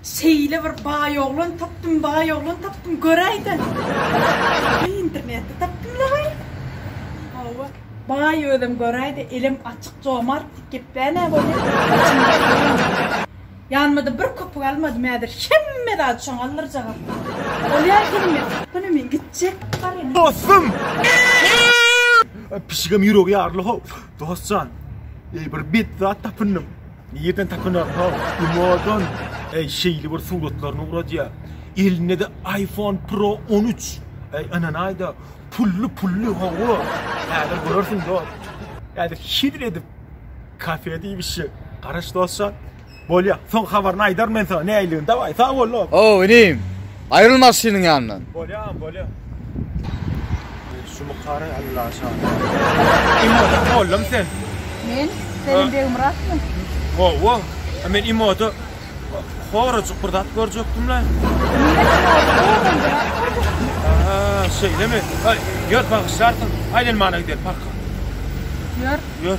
Şeýle bir baý oglan tapdym, baý oglan tapdym, göräýdä. Internetde tapdym laý. Hawa. Baý özem göräýdä, elem açyk, jomart diýip geplänä bolýar. Ýanyma-da bir köpük almadym, häzir hemme zady şoňa aldyrjagam. Bolýar hemme. Hany men gitjek. Dostum! Pişigem ýüregi ýaryly-how. Dost jan, eý bir bet zat tapyndym. Nirden tapynar ha? Gumadan. Eý şeýle bir suratlaryny uradýar. Elinde-de iPhone Pro 13. Eý ynanaýda, pully pully hawa. Häzir görersiň dost. Häzir şidr edip kafede iýmişjek. Garaş dost jan. Bolýa, soň habaryny aýdaryn men saňa näinligini, dawaý, sag bol dost! Hawa, inim, aýrylma Aslynyň ýanyndan! Bolýa, bolýa. Şu mukary Alla şaýat. Imoda mollamy sen? Men? Selim Begmyratmy? Hawa, a men Imoda horajyk bir zat görjekdim-le. Aha, şeýlemi? Aý, ýör, bagyşlarsyň. Aýlanmana gideýin, parka. Ýör. Ýör.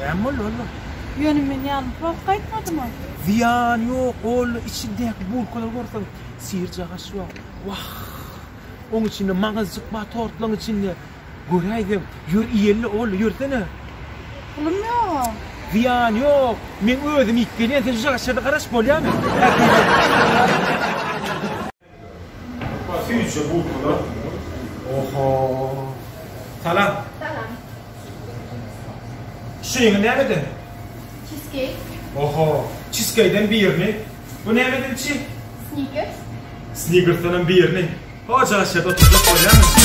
Näme boldy Ollo? Ýöne men ýalňyş bolup gaýtmadyma? Zyýany ýok, Ollo, içindäki bulkalary görseň, syr-jagaş bar. Wah! Oň içinde maňyzjyk bar, tortlaň içinde. Göräýseň, ýör iýeli, Ollo, ýörsene. Pulum ýog-a. Zyýany ýok, men özüm iýip gelýän, sen şu jagaşlarda garaş, bolýamy? Süýji butlar. Oho. Salam. Salam. Şuňy nämeden? Cheesecake. Oho. Cheesecake'den birini. Bu nämeden çi? Snickers. Snickers-den birini. Hojaşa oturjak bolýamy?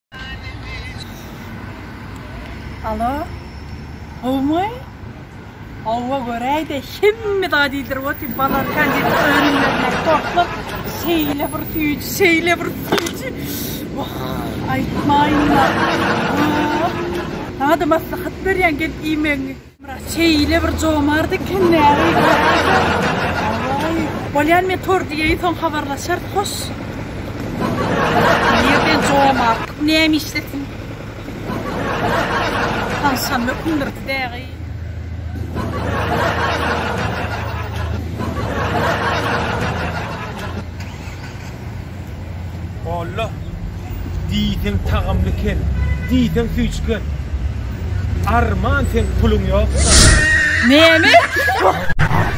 Alo. Gowmy? Howwa göräýde, hemme zat iýdirip otyr, balar konditer önümlerine toplup, şeýle bir süýji, şeýle bir süýji. Wah, aýtmaýynlar. Saňa-da maslahat berýän, gel iýmegiňi. Myrat şeýle bir jomart eken näme Awaý. Bolýan men tor diýeýin soň habarlaşar hoş. Nirden jomart näme işlesin. Tanşan mökündir dägi. Alla diýseň tagamly kel, diýseň süýçgen. Arman sen puluň ýoksa. Name?